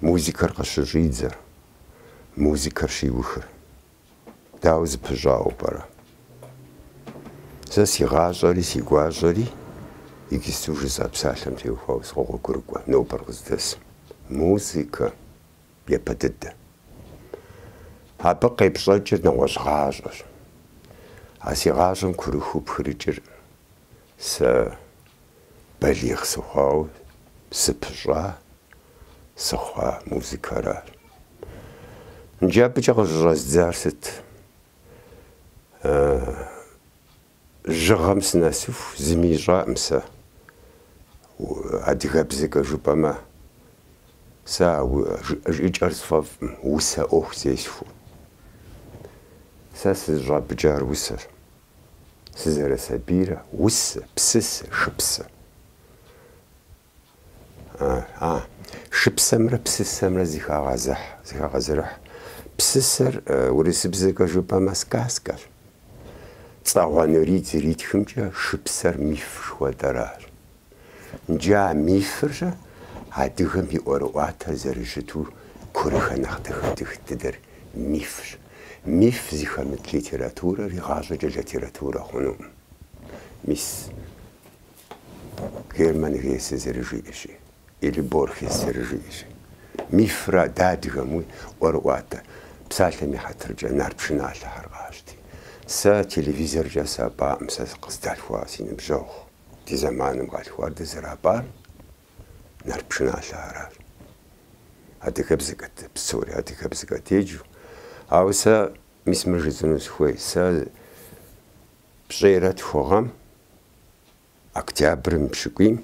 музыкэр къыщыщӏидзэр, музыкэр щиухыр. Дауэ зыпыщӏауэ пӏэрэ? Сэ си гъащӏэри си гуащӏэри иджысту жысӏа псалъэм теухуауэ сыкъогъуэгурыкӏуэ нобэр къыздэсым. Музыкэ япэ дыдэ. Абы къепщӏэкӏыр нэгъуэщӏ гъащӏэщ. А си гъащӏэм курыхыу пхырыкӏыр Сэ балигъ сыхъуауэ сыпыщӏа сыхъуа музыкэращ. Иджы абыкӏэ къыщӏыщӏэздзар сыт? Жьыгъэм сынэсыху зыми ищӏакъым сэ. Адыгэбзэкӏэ жыпӏэмэ, сэ а жы жыӏэкӏэр сфӏэфӏкъым, усэ ӏуэху зесхуэу. Сэ сызыщӏапӏыкӏар усэщ. сызэрысабийрэ, усэ, псысэ, шыпсэ. А, шыпсэмрэ псысэмрэ зыхагъэзыхь, зыхагъэзэрыхь. Псысэр, урысыбзэкӏэ жыпӏэмэ, сказкэщ. Цагъуэ Нурий зэритхымкӏэ шыпсэр миф жыхуэтӏэращ. Иджы а мифыр-щэ адыгэм и ӏуэрыӏуатэр зэрыщыту курыхэ нэхъ дыхэ-дых дыдэр мифщ. Миф зыхэмыт литературэр игъащӏэкӏэ литературэ хъунукъым. Мис Герман Гессе зэрыжиӏэщи, или Борхес зэрыжиӏэщи, мифра ди адыгэм и ӏуэрыӏуатэ псалъэм и хьэтыркӏэ нарт пшыналъэхэр къащти. Сэ телевизоркӏэ сапӏаӏым сэ къыздалъхуа си ныбжьэгъу. Ди зэманым къалъхуар дызэрапӏар нарт пшыналъэ аращ. Адыгэбзэкӏэт, псори адыгэбзэкӏэт еджэу. Ауэ сэ мис мыр жысӏэну сыхуей, сэ пщӏейрэ тху гъэм октябрым и пщыкӏуийм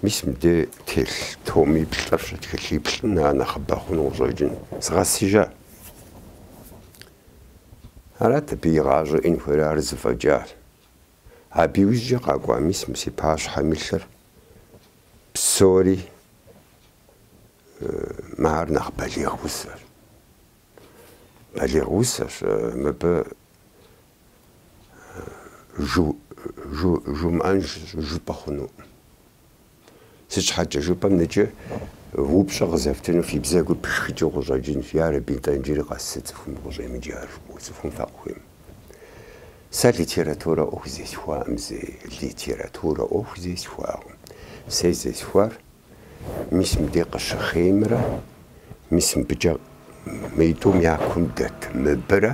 мис мыбдей телъ томиплӏырщ, тхылъиплӏым ар нэхъыбэ хъуну къыщӏэкӏын згъэсыжа. Арат абы и гъащӏэ иӏэн хуейр, ар зэфӏэкӏащ. Абы иужькӏэ къакӏуа мис мы си пащхьэм илъыр псори мы ар нэхъ балигъ усэщ. Балигъ усэщ, мыбы жу жу жумыӏэн щыжыпӏэ хъунукъым. Сыт щхьэкӏэ жыпӏэм иджы упщӏэ къызэфтыну фи бзэгур пшхыкӏыу къыщӏэкӏынщ, ярэби, нтӏэ иджыри къэс цӏыхум къыщӏемыджэр, а цӏыхум факъыхуейм. Сэ литературэ ӏуэху зесхуакъым зэи литературэ ӏуэху зесхуакъым. Сэ зесхуар мис мыдей къыщыхъеймрэ мис мыбыкӏэ мыитӏум я кум дэт мыбырэ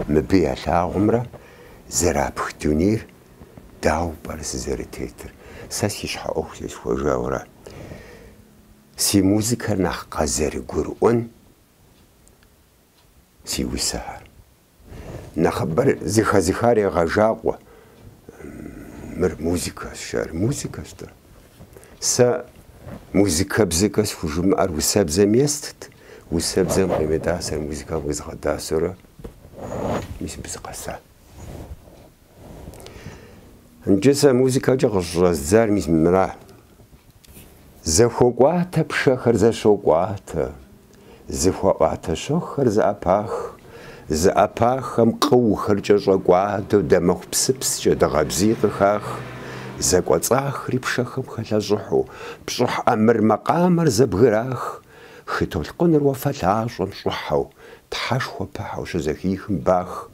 мыбы ялъагъумрэ зэрапх дунейр Дауэ пӏэрэ сызэрытетыр? Сэ си щхьэ ӏуэху зесхуэжауэра? Си музыкэр нэхъ къазэрыгурыӏуэн си усэхэр. Нэхъыбэр зыхэзыхар егъэщӏагъуэ. Мыр музыкэщ ар, музыкэщ-тӏэ. Сэ музыкэбзэкӏэ схужымыӏэр усэбзэм естт, усэбзэм къимытӏасэр музыкэм къизгъэтӏасэурэ, мис мыбы сыкъэса. Нкӏэ сэ музыкэкӏэ къыщӏэздзар мис мыра. Зэхуокӏуатэ пшэхэр зэщӏокӏуатэ, зэхуаӏуатэ щэхухэр зэӏэпах, зэӏэпаххэм къыухэр кӏэщӏэкӏуадэу дамэху псыпскӏэ дыгъэбзий къыхах, зэкӏуэцӏахри пшэхэм хэлъэщӏыхьу, пщӏыхь ӏэмыр макъамэр зэбгырах, хы толъкъуныр уафэлъащӏэм щӏыхьэу, тхьэшхуэ пыхьэу щызэхихым Бах,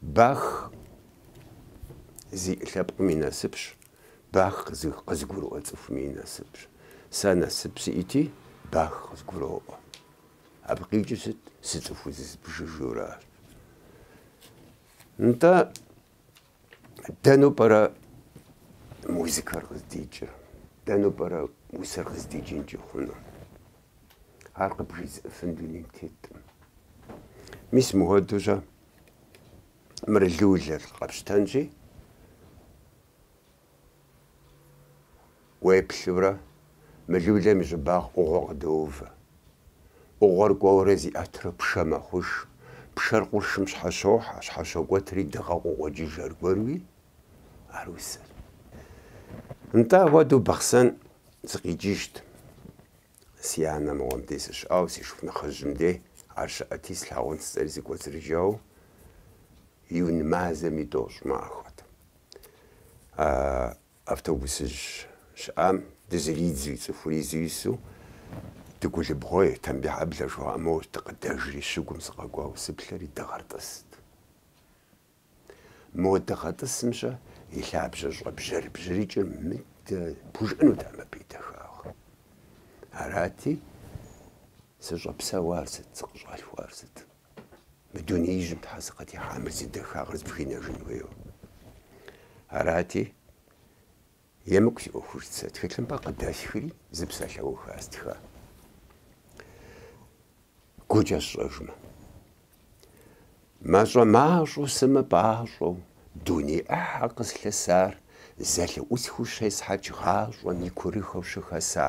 Бах зи лъэпкъым и насыпщ, Бах къызыгурыӏуэ цӏыхуми и насыпщ. Сэ насып сиӏэти, Бах къызгуроӏуэ. Абы къикӏыр сыт? Сыцӏыху зызыбжыжуращ. Нтӏэ, Дэну пӏэрэ музыкэр къыздикӏыр? Дэну пӏэрэ усэр къыздикӏынкӏи хъуну? Ар къыбжезыӏыфын дунейм теткъым. Мис мыхуэдэущэ мыр лулэр къэпщтэнщи, Уеплъурэ, мы лулэм и щӏыбагъ ӏугъуэ къыдоувэ. ӏугъуэр кӏуэурэ зиӏэтурэ пшэ мэхъуж. Пшэр къуршым щхьэщохьэ, щхьэщокӏуэтри дыгъэ къыкъуокӏыж аргуэруи, ара усэр. Нтӏэ, апхуэдэу Бахъсэн сыкъикӏыжт. Си анэ мыгъуэм дей сыщыӏауэ, си шыпхъу нэхъыжьым дей ар щыӏэти, слъагъун жысӏэри сыкӏуэцӏрыжауэ июнь мазэм и тӏощӏ махуэт. А автобусыжь щыӏам дызэридзэу, цӏыхур изу ису Дыгулыбгъуей, Тамбихьэблэ жыхуаӏэм дыкъыдэжри, щыгум сыкъэкӏуауэ сыплъэри, дыгъэр тӏыст. Мо дыгъэ тӏысым щэ и лъабжьэ щӏэбжьэрыбжьрыкӏыр мыдэ пхужыӏэнутэкъым абы и дахагъ. Арати, сыщӏэпсэуар сыт, сыкъыщӏалъхуар сыт? Мы дунеижьым щхьэ сыкъытехьа мыр зи дахагъэр сбгынэжын хуейуэ. Арати, Емыкӏу си ӏуэхужт сэ, тхылъымпӏэ къыдэсхри зы псалъэуха стха, гукӏэ сщӏэжмэ. Мащӏэ-мащӏэу сымыпӏащӏэу дуней ӏыхьэ къыслъысар зэлъыӏусхыу щесхьэкӏ гъащӏэм и курыхэу щыхэса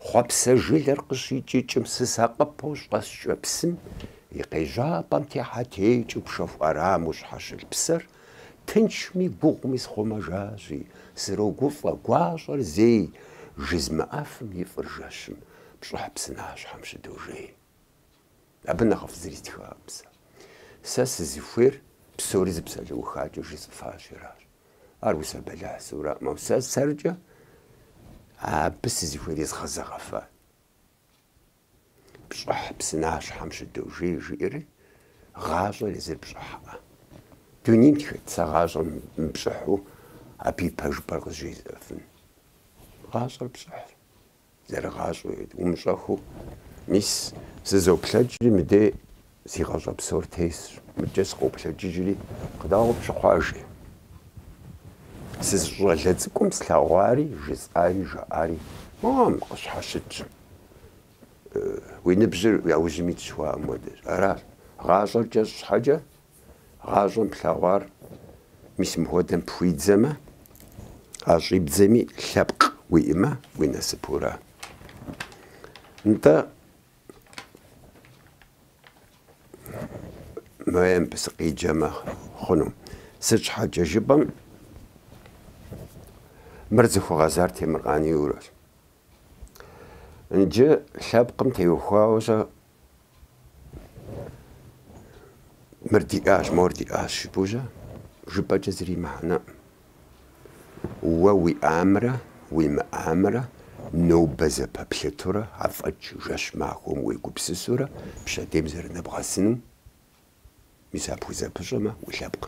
хъуэпсэ жылэр къыщикӏыкӏым сысакъыпэу щӏэскӏэ псым и къежьапӏэм техьэтекӏыу пшэху ӏэрамэу щхьэщылъ псэр Тыншми гугъуми схъумэжащи, срогуфӏэ, гуащӏэр зей жызмыӏэфым и фӏыр жэщым, пщӏыхь псынащхьэм щыдожей. Абы нэхъыфӏ зыри стхаӏым сэ. Сэ сызыхуейр псори зы псалъэухакӏэ жысӏэфащи аращ. Ар усэ бэлыхьщи араӏым, ауэ сэ сэркӏэ абы сызыхуейр изгъэзэгъэфат. Пщӏыхь псынащхьэм щыдожей жиӏэри, гъащӏэр езыр пщӏыхьӏэ. Дунейм хэт сэ гъащӏэр мыпщӏыхьу абы и пэжыпӏэр къызжезыӏэфын. Гъащӏэр пщӏыхьщ, зэрыгъащӏэу умыщӏэхыу. Мис сызоплъэкӏри, мыдей си гъащӏэ псор тесщ, мыдкӏэ сыкъоплъэкӏыжри, къыдауэ пщыхъуажи. Сызыщӏалэ цӏыкӏум слъэгъуари, жысӏари, жаӏари, моуэ къыщхьэщытщ. Уи ныбжьыр уи аужьым итщ жыхуаӏэм хуэдэщ. Аращ. Гъащӏэр кӏэщӏ щхьэкӏэ, гъащӏэм плъэгъуар мис мыхуэдэм пхуидзэмэ, а щӏибдзэми лъэпкъ уиӏэмэ, уи насыпура? Нтӏэ, моем сыкъеджэмэ хъуну. Сыт щхьэкӏэ жыпӏэм, мыр зыхуэгъэзар темыр къанийурэщ. Иджы лъэпкъым теухуауэ-щэ мыр диӏащ, мор диӏащ жыпӏэу-щэ жыпӏэкӏэ зыри мыхьэнэӏым. Уэ уиӏамрэ уимыӏамрэ нобэ зэпэплъытурэ афӏэкӏ жэщ махуэм уегупсысурэ пщэдейм зэрынэбгъэсыну, мис ар пхузэпыщӏэмэ, улъэпкъ.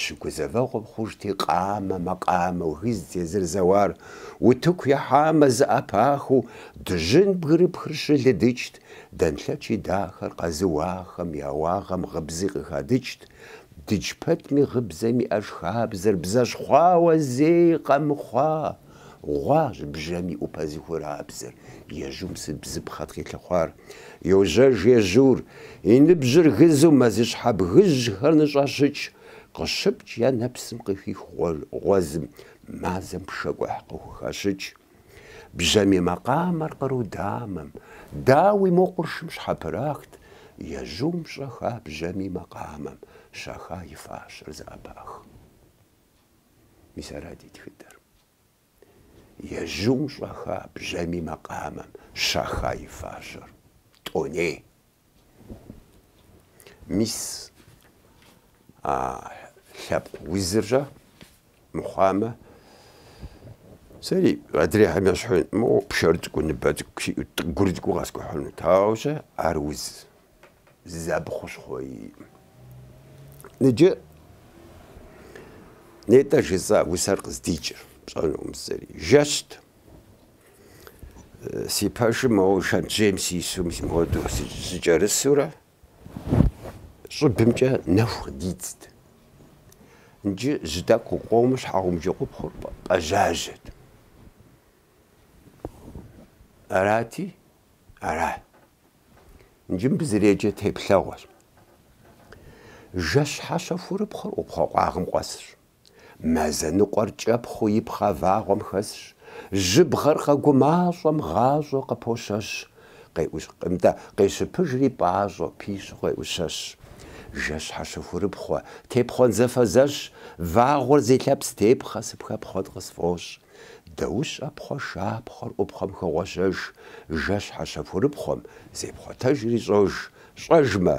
Щыгузэвэгъуэм хъужт и къамэ, макъамэу, гызт езыр зэуар, утыку яхьамэ, зэӏэпахыу, дыжьын бгырыпхыр щылыдыкӏт, дэнлъэчи дахэр къэзыуахэм я уагъэм гъыбзи къыхадыкӏт, дыдж пэтми гъыбзэм иӏэж хабзэр бзэщхъуауэ зэи къэмыхъуа. Гъуащ бжьамий ӏупэ зыхурабзэр, ежьум сыт бзыпхъэт къилъыхъуар? Йожьэж ежьур, и ныбжьыр гызу мэзыщхьэ бгыжьхэр ныщӏэщыкӏ, къыщыпкӏ я нэпсым къыхих гъуэзым, мазэм пшэкӏухь къыхухэщыкӏ. Бжьамий макъамэр къру дамэм, дауи, мо къуршым щхьэпрахт, ежьум щӏэха бжьамий макъамэм, щаха и фащэр зэӏэпах. Мис ара ди тхыдэр. Ежьум щӏэха бжьамий макъамэм щаха и фащэр. Тӏоней. Мис а лъэпкъ узыр-щэ мыхъуамэ, сэри адрейхэм ещхьу, моуэ пшэр цӏыкӏу, ныбэ цӏыкӏу, сиӏэу гур цӏыкӏуу къэскӏухьынут. Ауэ щэ ар уз Зы абы хущхъуэ иӏым. Иджы нетӏэ жысӏа усэр къыздикӏыр, пщӏэнукъым зыри. Жэщт. Си пэшым моуэ шэнтжьейм сису мис мыхуэду сыкӏэрысурэ щӏыбымкӏэ нэху къыдидзт. Иджы жьы тӏэкӏу къыкъуэуми щхьэгъубжэӏупхъуэр пӏэжьажьэт. Арати, ара? Иджы мыбы зэреджэр теплъэгъуэщ. Жэщ хьэщэхурыпхъуэр ӏупхъуэ къуагъым къуэсщ. Мазэ ныкъуэр кӏэпхъыу ипхъа вагъуэм хэсщ. Жьыбгъэр къэгумащӏэм гъащӏэу къыпощэщ. Къеӏущ-нтӏэ, къещыпыжри пӏащӏэу, пищу къеӏущэщ. Жэщ хьэщэхурыпхъуэ, тепхъуэн зэфэзэщ. Вагъуэр зи лъэпс тепхъэ, сыпхэпхъуэн къысфӏощӏ. Дэущӏэ пхъуэ шапхъуэр ӏупхъуэм хогъуэщэж, жэщ хьэщэхурыпхъуэм зепхъуэтэжри щӏож, щӏэжмэ,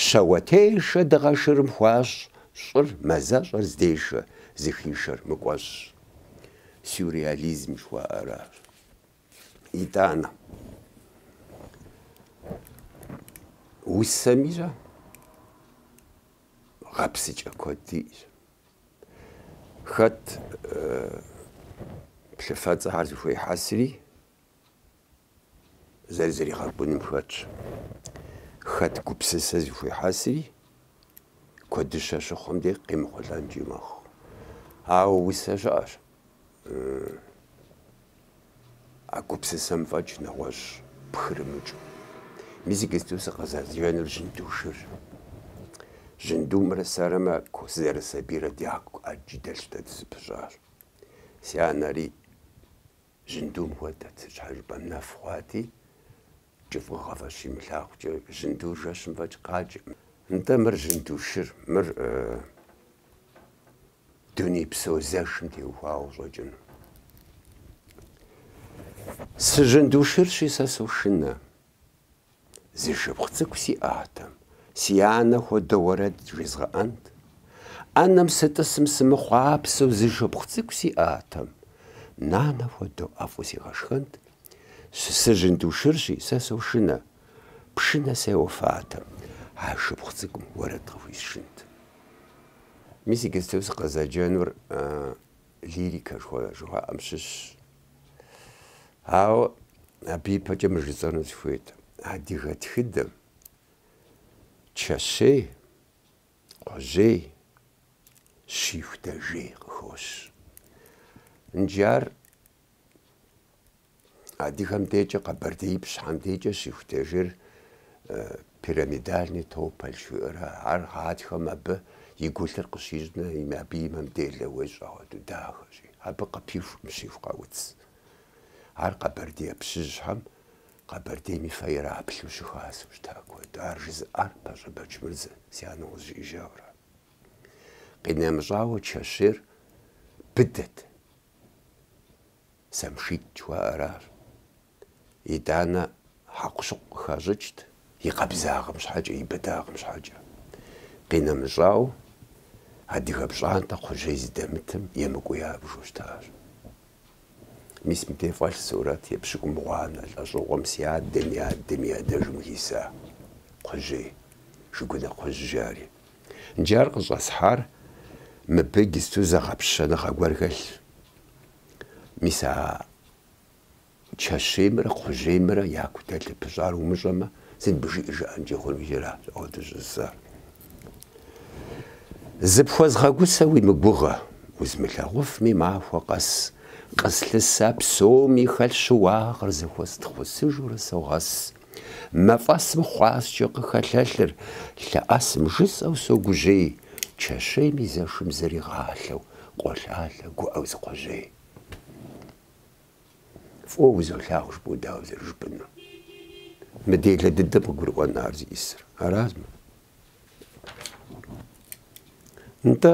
щэуэтешэ дыгъэ шырым хуащӏ, щӏыр, мазэщӏэр здешэ, зыхишэр мыкӏуэщӏ. Сюрреализм жыхуаӏэ аращ. Итӏанэ, усэми щӏэ, гъэпсыкӏэ куэд диӏэщ. Хэт плъыфэцӏэхэр зыхуехьэсри, зэрызэригъэкӏуным хэтщ. Хэт гупсысэ зыхуехьэсри, куэдыщэ щыхъум де къимыхъулӏэнкӏи мэхъу. Ауэ усэ щыӏэщ. А гупсысэм фӏэкӏ нэгъуэщӏ пхырымыкӏыу. Мис иджыпсту сыкъызэджэнур жьынду шыр. Жьындумрэ сэрэ мы ку сызэрысабийрэ дяку ӏэджи дэлъщ дэ дызэпыщӏащ. Си анэри жьындум хуэдэт, зы щхьэжыпӏэм нэф хъуати, кӏыфӏыгъэ фӏэкӏ имылъагъукӏэ, жьындур жэщым фӏэкӏ къаджэ. Нтӏэ, мыр жьынду шыр, мыр. дунейпсо зэшым теухуауэ щӏэкӏыну. Сыжьындушырщи, сэ сошынэ. Зы шыпхъу цӏыкӏу сиӏатэм, си анэ хуэдэу уэрэд жезгъэӏэнт. ӏэнэм сытӏысым сымыхъуапсэу зы шыпхъу цӏыкӏу сиӏатэм, нанэ хуэдэу ӏэфӏу сигъэшхэнт. Сыжьындушырщи, сэ сошынэ. Пшынэ сеуэфатэм, а шыпхъу цӏыкӏум уэрэд къыхуисшынт. Мис иджыпсту сыкъызэджэнур лирикэ жыхуаӏэм щыщщ. Ауэ абы ипэкӏэ мыр жысӏэну сыхуейт, адыгэ тхыдэм чэщей, кхъужьей, щиху дэжьей къыхощ. Иджы ар Адыгэм декӏэ къэбэрдеипщхэм декӏэ щихутежыр пирамидальный тополь жыхуаӏэра, ар гъатхэм абы и гулъыр къыщищӏмэ, абы и мэм делэ уещӏ хуэдэу дахэщи, абы къыпихум щиху къауц. Ар къэбэрдеипщыжьхэм Къэбэрдейм и фэ ираплъу щыхасэу щыта куэду. Ар жызыӏар Пащӏэ Бэчмырзэ си анэм къызжиӏэжауэра. Къинэмыщӏауэ чэщейр быдэт. Самшит жыхуаӏэр ар. Итӏанэ хьэкъущыкъу къыхащӏыкӏт, и къабзагъэм щхьэкӏэ, и быдагъэм щхьэкӏэ. Къинэмыщӏауэ, адыгэ пщӏантӏэ кхъужьей зыдэмытым емыкӏуу ябжу щытащ. Мис мыдей фӏэлъ сурэт епщыкӏумгъуанэ лӏэщӏыгъуэм си адэм и адэм и адэжым хиса кхъужьей, Жыгунэ кхъужь жари. Иджы ар къыщӏэсхьар мыбы иджысту зэгъэпщэныгъэ гуэр хэлъщ. Мис а чэщеймрэ кхъужьеймрэ яку дэлъу пыщӏар умыщӏэмэ, сыт абы жиӏэ жаӏэнкӏи хъуну иджыра ауэ дыщӏысар? Зыпхуэзгъэгусэ уи мыгугъэ, узмылъагъуфми махуэ къэс къыслъыса псоми хэлъ щыуагъэр зэхуэстхъусыжурэ согъэс. Мафӏэсым хъуаскӏэ къыхэлъэлъыр лъэӏэсым жысӏэу согужьей, чэщейм и зэшым зэригъалъэу къолъалъэ гуӏэу зы кхъужьей. Фӏыуэ узолъагъу жыпӏэу дауэ зэрыжыпӏэнур? Мы делэ дыдэм къыгурыӏуэн ар зиӏысыр? Араз мыр? Нтӏэ,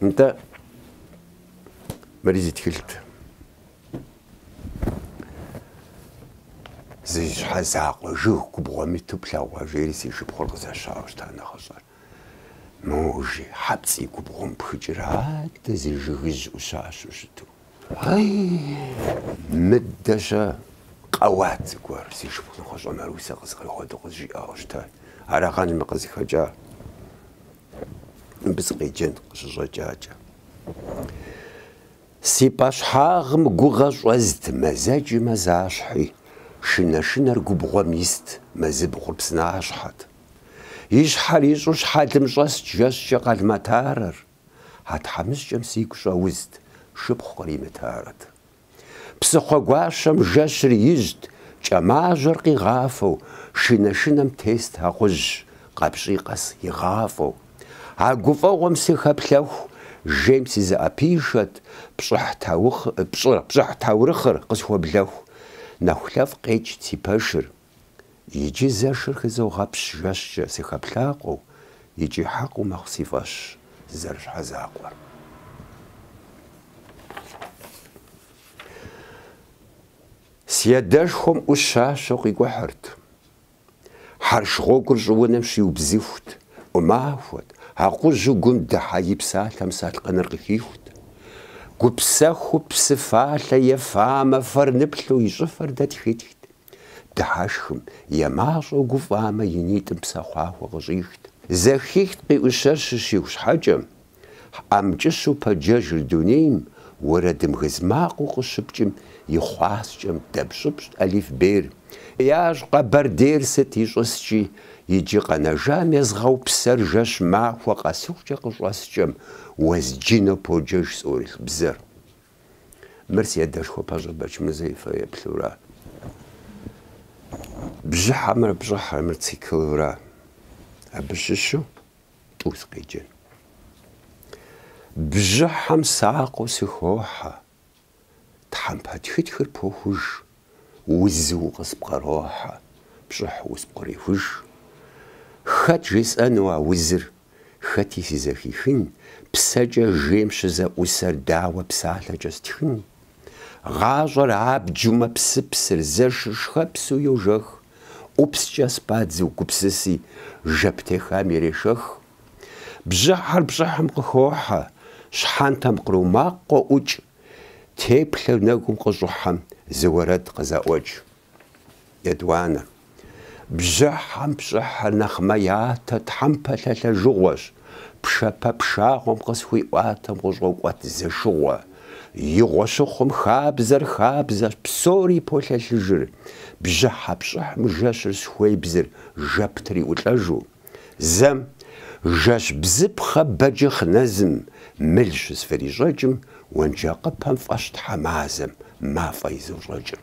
Нтӏэ, мыри зы тхылът. Зи щхьэ закъуэ жыг губгъуэм иту плъэгъуа жери си шыпхъур къызэщауэ щыта нэхъыщӏэр. Мо жьы хьэпцӏий губгъуэм пхыкӏыр адэ зы жыгыжь ӏущащэу щыту. Ай, мыдэ-щэ, къэуат зыгуэр, си шыпхъу нэхъыщӏэ Марусэ къызэгие хуэдэу къызжиӏауэ щыта. Арагъэн мыр къызыхэкӏа, мыбы сыкъеджэн къыщыщӏэкӏакӏэ. Си пӏэщхьагъым гугъэ щӏэзт, мазэкӏи мазащхьи, шынэ-шынэр губгъуэм ист, мэзыбгъур псынащхьэт. И щхьэр ищӏу щхьэлым щӏэст жэщкӏэ къалматарэр. А тхьэмыщкӏэм сигу щӏэузт, шыпхъу къримытарэт. Псыхъуэгуащэм жэщыр ижьт, кӏэмажьэр къигъафэу, шынэ-шынэм тест акъужь, къэпщӏий къэс игъафӏэу. А гуфӏэгъуэм сыхэплъэху, жейм сызэӏэпишэт, пщӏыхь таухъ, пщӏы, пщӏыхь таурыхъыр къысхуэблэху. Нэхулъэфӏ къекӏт си пэшыр. Иджы зэшыр хызогъэпщ жэщкӏэ сыхэплъакъуэу, икӏи хьэкъыу мэхъу си фӏэщ зэрыщхьэзакъуэр. Си адэшхуэм ӏущащэу къикӏухьырт. Хьэрш гъуэгур щӏыунэм щиубзыхут, ӏумахуэт, акъужьу гум дыхьэ и псалъэм салъкъыныр къыхихут. Гупсэхуу псыфалъэ ефамэ фэр ныплъу и щӏыфэр дэтхытхт. Дыхьэшхым, е мащӏэу гуфӏамэ, и нитӏым псэхъуахуэ къыщӏихт. Зэхихт къиӏущэр щыщиху щхьэкӏэ, ӏэмкӏыщу пэджэжыр дунейм, уэрэдым гыз макъыу къыщыпкӏым и хъуаскӏэм дэпщӏыпщӏт алифбейр. Ящӏ Къэбэрдейр сыт ищӏыскӏи, иджы къэнэжам езгъэупсэр жэщ махуэ къэсыхукӏэ къыщӏэскӏэм, уэзджынэу поджэж цӏуэрылъ бзэр. Мыр си адэшхуэ Пащӏэ Бэчмырзэ и фэеплъура, бжьыхьэмрэ пщӏыхьымрэ циклура абы щыщу тӏу сыкъеджэн. Бжьыхьэм сакъыу сыхохьэ, тхьэмпэ тхытхыр похуж, узу къыспкърохьэ, пщӏыхьу спкърихуж. Хэт жесӏэну а узыр хэти сызэхихын, псэкӏэ жейм щызэӏусэр дауэ псалъэкӏэ стхын? Гъащӏэр абджу мэпсыпсыр, зэшыр шхэпсу йожэх, ӏупскӏэ спадзу гупсыси, жэп техам ирешэх. Бжьыхьэр пщӏыхьым къыхохьэ, щхьэнтэм къру макъ къоӏукӏ, теплъэр нэгум къыщӏыхьэм зы уэрэд къызэӏуэкӏ. Етӏуанэ. Бжьыхьэм пщӏыхьыр нэхъ мэятэ тхьэмпэ лъэлъэжыгъуэщ, пшэпэ пшагъуэм къысхуиӏуатэм къыщӏокӏуэт зэшыгъуэ. Игъуэ щыхъум хабзэр хабзэщ, псори полъэлъыжыр. Бжьыхьэ пщӏыхьым жэщыр схуебзыр жэп триӏулӏэжу. Зэм, жэщ бзыпхъэ бэджыхъ нэзым, мыл щысхурищӏэкӏым, уэнджакъыпэм фӏэщ тхьэмазэм, мафӏэ изощӏэкӏым.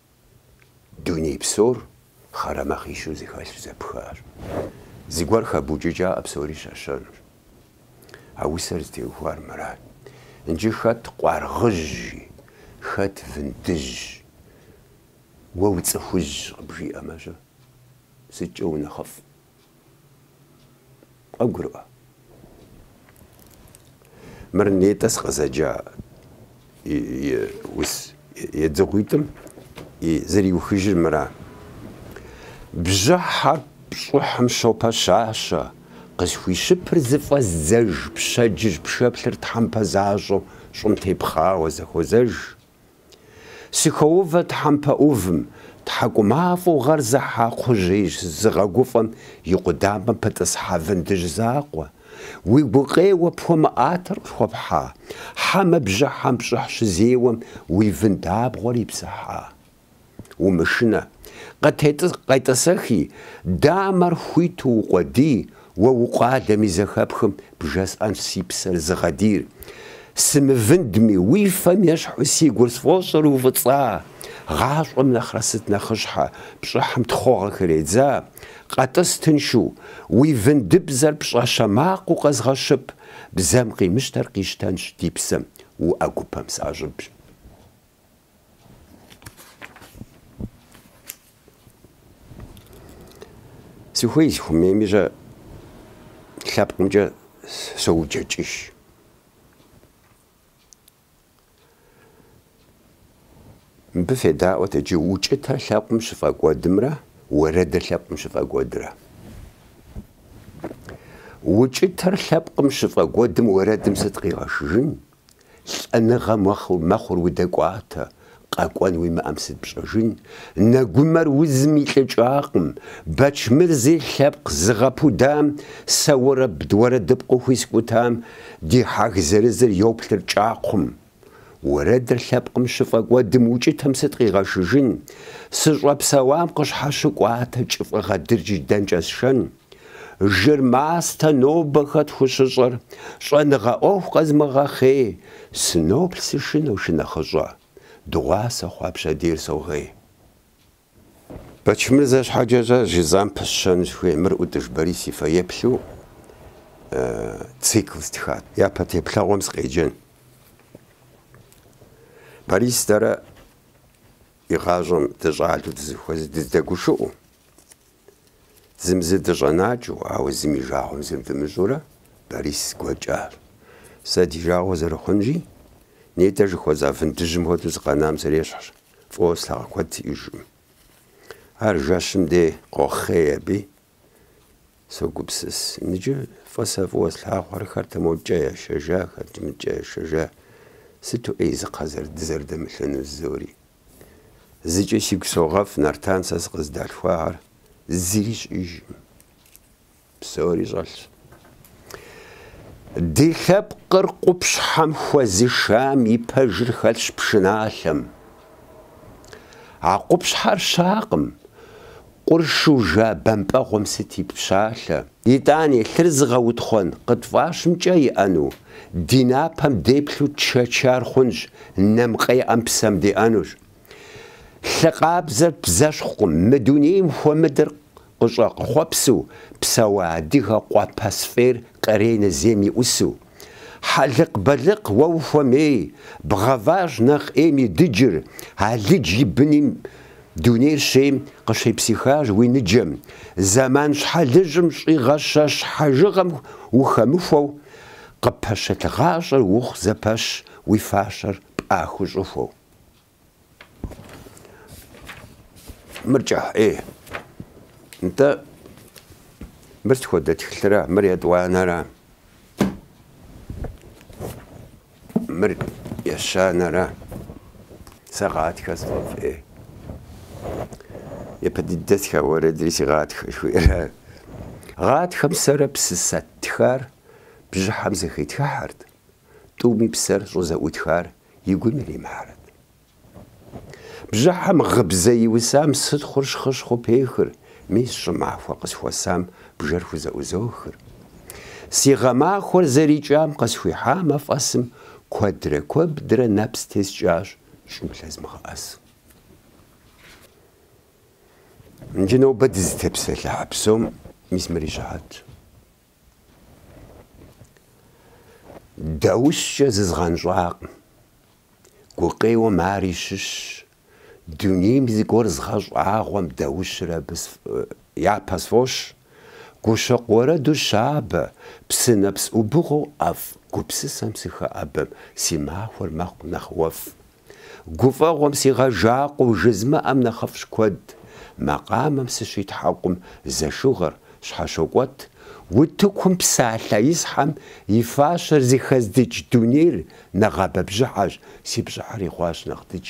Дуней псор хъарамэ къищу зэхэлъщ, зэпхащ. Зыгуэр хэбукӏыкӏакъэ псори щэщэнущ. А усэр зытеухуар мырат. Нджы хэт къуаргъыжьи, хэт вындыжьи, уэ уцӏыхужь къыбжиӏэмэ-щэ, сыткӏэ унэхъыфӏ? Къогурыӏуэ. Мыр нетӏэ сыкъызэджа усэ едзыгъуитӏым и зэриухыжыр мыра. Бжьыхьэр пщӏыхьым щопэщащэ, къысхуищыпыр зыфӏэздзэж пщэдджыжь пшэплъыр тхьэмпэ защӏэу щӏым тепхъауэ зэхуозэж. Сыхоувэ тхьэмпэ ӏувым, тхьэкӏумафӏэу гъэр зыхьа кхъужьеижь зыгъэгуфӏэм и къудамэм пытӏысхьа вындыжь закъуэ, уи гукъеуэ пхуэмыӏатэр къысхуэпхьа, хьэмэ бжьыхьэм пщӏыхь щызеуэм уи вынд абгъуэр ипсыхьа. умышынэ. Къетӏысэхи, дамэр хуиту укъуэдий, уэ укъуалэми зэхэпхым бжесӏэнщ си псэр зыгъэдийр. Сымывындми, уи фэм ещхьу си гур сфӏощӏыр уфӏыцӏа. Гъащӏэм нэхърэ сыт нэхъыщхьэ, пщӏыхьым тхъугъэхэр едза. Къэтӏыс тыншу, уи вындыбзэр пщӏэщэ макъыу къэзгъэщып, бзэм къимыщтэр къищтэнщ ди псэм, уӏэгупэм сащӏыбщ. Сыхуей сыхуэмейми сэ лъэпкъымкӏэ соуджэкӏыж. Мыбы федаӏуэт иджы укӏытэр лъэпкъым щыфӏэкӏуэдымрэ уэрэдыр лъэпкъым щыфӏэкӏуэдрэ. Укӏытэр лъэпкъым щыфӏэкӏуэдым уэрэдым сыт къигъэшыжын? Лӏэныгъэ мэхъу, мэхъур удэкӏуатэ, къэкӏуэн уимыӏэм сыт пщӏэжын? Нэгумэр узым илӏыкӏакъым, Бэчмырзи лъэпкъ зыгъэпудам, сэ уэрэбд уэрэдыпкъыу хуискӏутам ди хьаг зырызыр йоплъыр кӏакхъум. Уэрэдыр лъэпкъым щыфӏэкӏуэдым укӏытэм сыт къигъэшыжын? Сыщӏэпсэуам къыщхьэщыкӏуатэ кӏыфӏыгъэ дыджыр дэнкӏэ сшэн? Жыр мастэ нобэ хэт хущыщӏэр, щӏэныгъэ ӏуэху къэзмыгъэхъей, сыноплъ сышынэу шынэхъыщӏэ, дыгъуасэ хъуа пщэдейр согъей. Бэчмырзэ щхьэкӏэ сэ жызам пысщэну сыхуей, мыр ӏутӏыж Борис и фэеплъу цикл стхат. Япэ теплъэгъуэм сыкъеджэн. Борис дэрэ и гъащӏэм дыщӏалэу дызэхуэзэу, дыздэгушыӏэу. Зым зы дыщӏэнакӏэу, ауэ зым и жагъуэм зым дымыщӏурэ, Борис гуэкӏащ. Сэ ди жагъуэ зэрыхъунщи, нетӏэ жыхуэза вындыжьым хуэдэу сыкъэнам срещхьщ, фӏыуэ слъагъу куэд сиӏэжкъым. Ар жэщым дей къохъей аби, согупсыс. Ныджы фӏы сэ фӏыуэ слъагъуэр хэт модкӏэ яшэжа, хэт мыдкӏэ яшэжа, сыту ӏей зы кхъэ дызэрыдэмылъыну жызори. Зыкӏэ сигу согъэфӏ, Нартан, сэ сыкъыздалъхуахэр зыри щыӏэжкъым. Псори щӏэлъщ. Ди лъэпкъыр къупщхьэм хуэзышам и пэжыр хэлъщ пшыналъэм. А къупщхьэр щакъым, Къуршу жа бампӏэгъуэм сыт и пщалъэ? Итӏани, лъыр зыгъэутхъуэн къытфӏащымкӏэ иӏэну, ди напэм деплъу чэчар хъунщ, нэм къеӏэм псэм деӏэнущ. Лъы къабзэр бзэщхъукъым, мы дунейм хуэмыдэр къыщӏэхъуэпсу псэуа адыгэ къуэ пэсфӏейр къренэ зейм и ӏусу. Хьэлыкъ-бэлыкъ уэ ухуэмей, бгъэващ нэхъ ӏейм и дыджыр, алыдж и быным дунейр щейм къыщепсыхащ уи ныджэм, зэман щхьэлыжьым щӏигъэщэщ хьэжыгъэм ухэмыхуэу, къыппэщылъ гъащӏэр ухъу зэпэщ уи фащэр пӏахыу щӏыхуэу. Мыр кӏыхь, ӏей. Нтӏэ, мыр сыт хуэдэ тхылъра, мыр етӏуанэра? Мыр ещанэра? Сэ гъатхэ сфӏэфӏ, ӏей. Япэ дыдэ стха уэрэдри си гъатхэ жыхуиӏэра? Гъатхэм сэрэ псысэ ттхар бжьыхьэм зэхитхыхьэрт, тӏуми псэр щӏызэӏутхар и гум иримыхьрэт. Бжьыхьэм гъыбзэ иусам сытхъур щхъыщхъыу пехыр, мис щӏымахуэ къысхуэсам бжэр хузэӏузохыр. Си гъэмахуэр зэрикӏам къысхуихьа мафӏэсым куэдрэ куэбдрэ нэпс тескӏащ щӏым лъэзмыгъэӏэсу. Иджы нобэ дызытепсэлъыхьэ псом мис мыри щыхьэтщ. Даущкӏэ зызгъэнщӏакъым. Гукъеуэм ари щыщщ, дунейм зыгуэр згъэщӏагъуэм даущыр абы япэ сфӏощӏ, гущэкъу уэрэду щабэ, псынэпс ӏубыгъуэу ӏэфӏ гупсысэм сыхэӏэбэм си махуэр мэхъу нэхъ уэфӏ, Гуфӏэгъуэм сигъэжакъуэу жызмыӏэм нэхъыфӏщ куэд, макъамэм сыщитхьэкъум зэшыгъэр щхьэщокӏуэт, утыкум псалъэ исхьэм и фащэр зыхэздыкӏ дунейр нэгъабэ бжьыхьэщ, си пщӏыхьри хъуащ нэхъ дыдж.